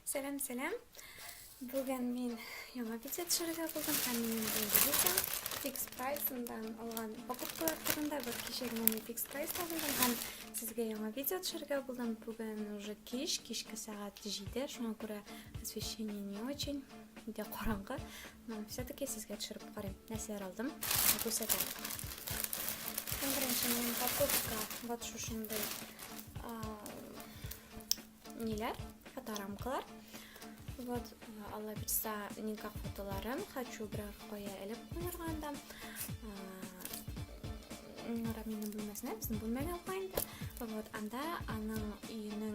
Сәлам, сәлам. Бүген мин яңа видео төшерергә булдым һәм минем бүгенге видео фикс прайсындан алган покупкалар турында бер кичә генә мин фикс прайста булдым һәм сезгә яңа видео төшерергә булдым. Бүген уже кич, кичке сәгать 7, шуңа күрә освещение не очень, өйдә караңгы. Менә, все-таки сезгә төшереп карыйм. Нәрсәләр алдым? Күрсәтәм. Иң беренче минем покупка вот шушындый ниләр, фоторамкалар. Вот, алла бирса, никак фотоларын хочу бирәр кая элеп куярга анда. Нора минем бүлмәсенә, безнең бүлмәгә алга инде. Вот, анда аның өенең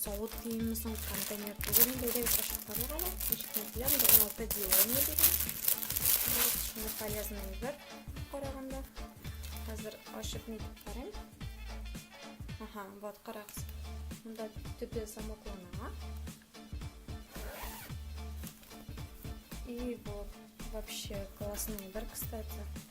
савыт киемме соң контейнер түгел инде әйдәгез ачып карыйк әле ничек мәсьәлә монда он алты делание дигән шундый полезный әйбер караганда хәзер ачып нитеп карыйм ага вот карагыз монда төбе замоклана и вот вообще классный әйбер кстати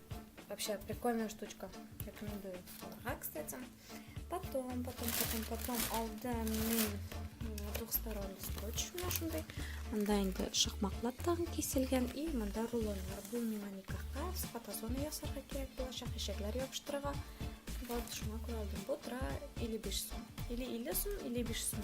Вообще прикольная штучка. Рекомендую. Дорога, кстати. Потом, потом, потом, потом алды двухсторонний скотч нашындай. Анда инде шахмаклап тагын киселгән и монда рулоннар. Бу миңа никахка, фотозона ясарга кирәк булачак, ишекләр ябыштырырга. Вот шуңа күрә алдым. Бу тора или биш сум. Или или сум, или биш сум.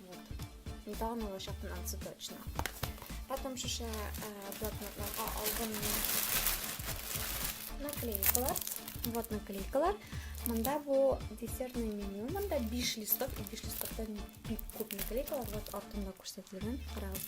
Недавно его сейчас финансы точно. Потом еще э, блокнот на албом наклейкалар. Вот наклейкалар. Мында бу десертный меню. Мында 5 листов и 5 листоктан бик күп наклейкалар. Вот артында күрсәтелгән. Карагыз.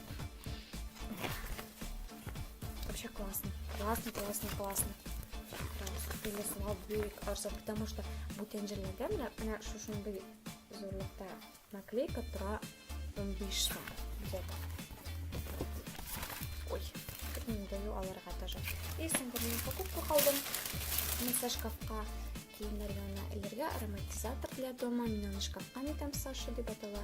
Вообще классно. Классно, классно, классно. Или слава бөек арзан, потому что бүтәнҗерләрдә менә менә шушындый зурлыкта наклейка тора 15 сум. Где-то. Ой, не даю аларга даже. И соңгы мин покупка калдым. Мисә шкафка киемнәр янына элергә ароматизатор для дома. Мин аны шкафка нитәм Саша дип атала.